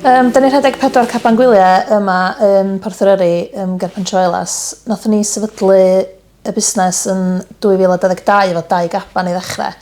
Um, da ni rhedeg pedwar caban gwyliau yma yn Porth yr Yrru um, ger Pentroelas. Nothon ni sefydlu y busnes yn 2022 efo dau gaban i ddechrau.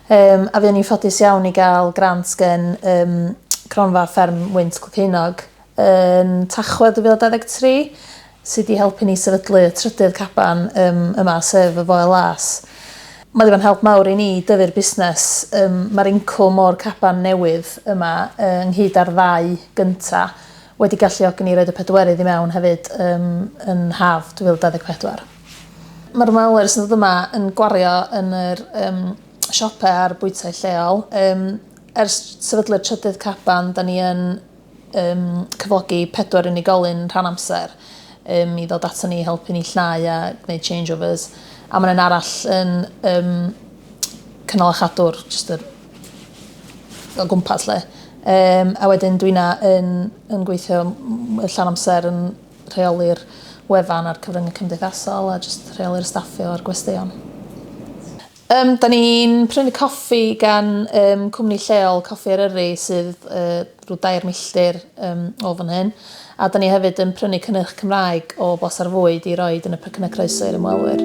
Um, a fuon ni'n ffodus iawn i gael grant gen um, cronfa fferm Wynt Cloceinog yn Tachwedd 2023, sydd wedi helpu ni sefydlu y trydydd caban um, yma, sef y Foel Las. Mae wedi bod yn help mawr i ni dyfu'r busnes. Um, Mae'r incwm o'r caban newydd yma uh, ynghyd â'r ddau gynta wedi galluogi ni roed y pedwerydd i mewn hefyd um, yn haf 2024. Mae'r ymwelwyr sy'n dod yma yn gwario yn yr um, siopau a'r bwytai lleol. Um, ers sefydlu'r trydydd caban, da ni yn um, cyflogi pedwar unigolyn rhan amser um, i ddod ato ni i helpu ni llnau a gwneud changeovers. A mae'n arall yn um, cynnal a chadwr, just yr o gwmpas lle. Um, a wedyn dwi'n yn, yn gweithio llan amser yn rheoli'r wefan a'r cyfryngau cymdeithasol a jyst rheoli'r staffio a'r gwesteion. Yym, da ni'n prynu coffi gan um, cwmni lleol, Coffi Eryri, sydd uh, rhyw dair milltir um, o fan hyn. A da ni hefyd yn prynu cynnyrch Cymraeg o blas ar fwyd i roed yn y pecynnau croeso i'r ymwelwyr.